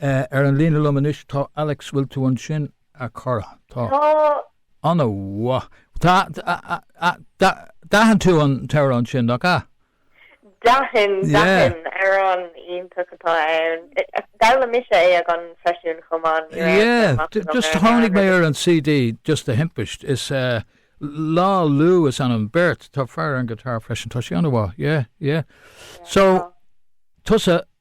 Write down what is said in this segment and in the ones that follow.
Ar an líne liom anois tá Alex, bhfuil tú ansin a chara? Tá. Tá. Ana mhaith. d'aithin tú an t-amhrán sin, nach ea? D'aithin, d'aithin, amhrán iontach atá ann. D'fhoghlaim mise é ag an seisiún chomh maith, ní raibh sé maith agam ar an aer. Tháinig mé ar an CD just de thimpist, is ea, Lá Lú is ainm don bheirt, tá fear ar an guitar freisin, tá sí ana mhaith, yeah, yeah. So, tusa,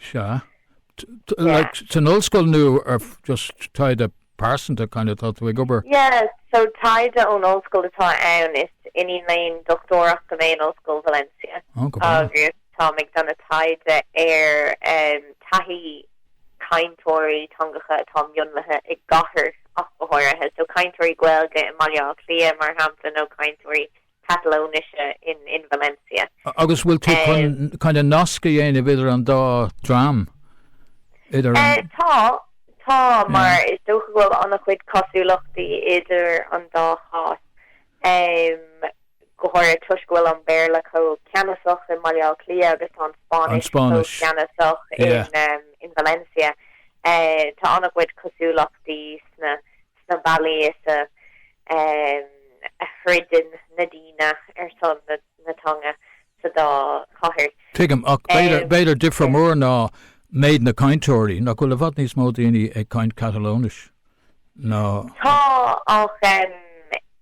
sea, san ollscoil nó ar just taighde pearsanta kind of tá tú ag obair? yeah, so taighde ón ollscoil atá ann, is iníon léinn dochtúireachta mé in Ollscoil Valencia oh go maith. agus táim ag déanamh taighde ar thaithí cainteoirí teangacha atá mionlaithe i gcathair ach go háirithe, so cainteoirí Gaeilge i mBaile Átha Cliath mar shampla nó cainteoirí Catalóinise in Valencia. Agus bhfuil tú kind of nasc a dhéanamh idir an dá dream? Tá, tá, mar is dócha go bhfuil an-chuid cosúlachtaí idir an dá chás, go háirithe toisc go bhfuil an Béarla chomh ceannasach i mBaile Átha Cliath agus tá an Spáinnis chomh ceannasach in Valencia. Tá an-chuid cosúlachtaí sna sna bealaí as a throideann na daoine ar son na teanga sa dá chathair. Tuigim, ach b'fhéidir difear mór ná méid na cainteoirí. Nach bhfuil i bhfad níos mó daoine ag caint Catalóinis ná. Tá, ach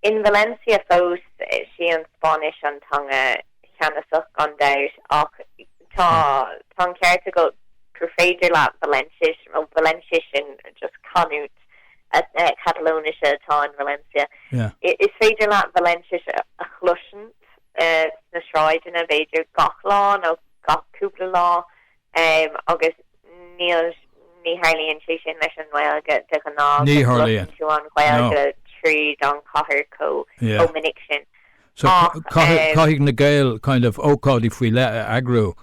in Valencia fós, is í an Spáinnis an teanga cheannasach gan dabht. Ach tá an ceart agat gur féidir leat Valenciais, nó Valenciais, sin just canúint, Catalóinise atá in Valencia. Is féidir leat Valenciais a chloisint sna sráideanna b'fhéidir gach lá nó gach cúpla lá agus níl ní tharlaíonn sé sin leis an nGaeilge de ghnáth go gcloiseann tú an Ghaeilge tríd an chathair chomh minic sin. So caithfidh na Gaeil kind of ócáidí faoi leith a eagrú.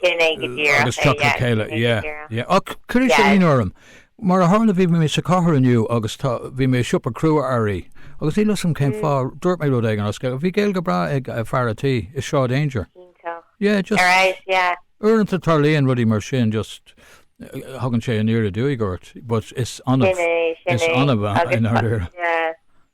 Sin é go díreach é, yeah. Sin é go díreach é. Agus teacht le chéile, yeah, yeah. Ach chuir sé ionadh orm. Mar a tharla bhí mé sa chathair inniu agus tá, bhí mé i siopa crua earraí agus níl a fhios agam cén fáth, dúirt mé rud éigin as Gaeilge. Bhí Gaeilge bhreá ag fear a' tí i Sráid Aungier. Iontach. Yeah, just. Ar ais, yeah. Uaireanta tarlaíonn rudaí mar sin, just tagann sé aniar aduaidh ort, but is annamh, is annamh i ndáiríre. Yeah.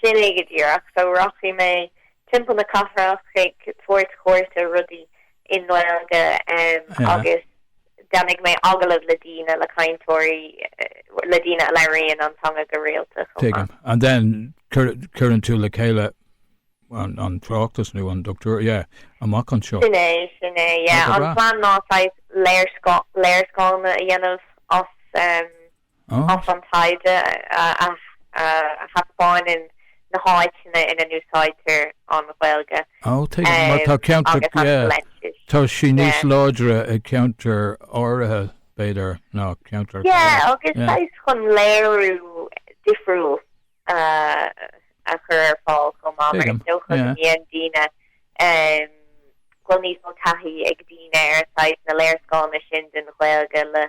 Sin é go díreach. So rachaidh mé timpeall na cathrach ag tabhairt cuairt ar rudaí i nGaeilge agus déanfaidh mé agallamh le daoine, le cainteoirí, le daoine a labhraíonn an teanga go rialta chomh maith. Tuigim. And then cuireann tú le chéile an tráchtas nó an dochtúir, yeah, amach anseo. Sin é, sin é, yeah. An plean ná saghas léarscáileanna a dhéanamh as. As an taighde a thaispeáineann na háiteanna ina n-úsáidtear an Ghaeilge agus an Fhraincis. Tá sí níos láidre i gceantair áirithe, b'fhéidir, ná ceantair eile. Yeah, agus saghas chun léiriú difriúil a chur ar fáil chomh maith, mar is dócha go mbíonn daoine, go bhfuil níos mó taithí ag daoine ar saghas na léarscáileanna sin den Ghaeilge le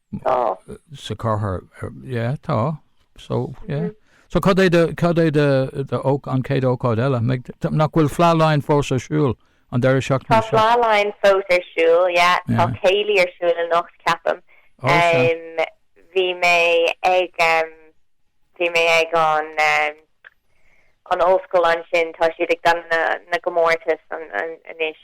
Tá. sa chathair, yeah, tá, so, yeah. So cad é do, cad é do, do ó, an céad ócáid eile? Mbeidh, nach bhfuil Fleadh Laighean fós ar siúl an deireadh seachtaine seo? Tá Fleadh Laighean fós ar siúl, yeah. yeah. Tá céilí ar siúl anocht, ceapaim. Ó, sea. Um, bhí mé ag, um, bhí mé ag an, um, an Ollscoil ansin. Tá siad ag déanamh na gcomórtas anois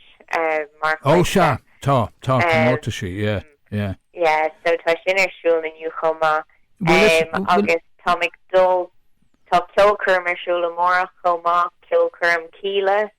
mar chuid de. Ó sea, tá, tá comórtaisí, yeah, yeah. Yeah, so tá sin ar siúl inniu chomh maith. Bhuel is, bhuel. Agus táim ag dul, tá ceolchoirm ar siúl amárach chomh maith, ceolchoirm Kíla,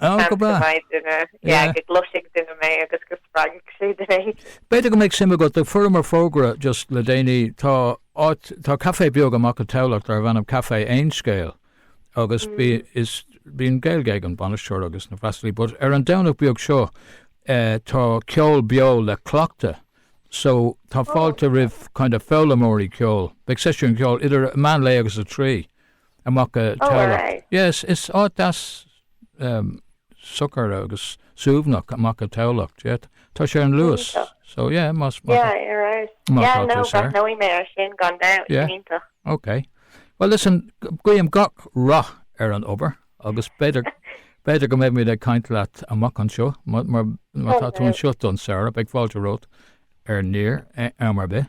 Oh, go breá. Yeah. Go gcloisfidh duine mé agus go spreagfaidh sé duine eile. B'fhéidir go mbeidh suim agat ag fuaireamar fógra just le déanaí, tá áit, tá café beag amach i dTamhlacht darb ainm Café Aon Scéal agus bí, is, bíonn Gaeilge ag an bainisteoir agus na freastalaí but ar an Domhnach beag seo eh, tá ceol beo le cleachtadh so tá Oh, fáilte roimh kind of foghlaimeoirí ceoil, beidh seisiún ceoil idir meán lae agus a trí amach i dTamhlacht. Oh, aye. Yes, is áit deas um, socair agus suaimhneach amach i dTamhlacht, yeah. Tá sé ar an Luas. Iontach. So, yeah, más, más, Yeah, you're right. Má Yeah, tá no, tú saor. breathnóidh mé ar sin gan dabht. Yeah. Iontach. ok. Well, listen, g- guím gach rath ar an obair agus b'fhéidir, b'fhéidir go mbeimid ag caint leat amach anseo, mar, mar, mar tá tú anseo don samhradh, beidh fáilte romhat ar Near, eh, am ar bith.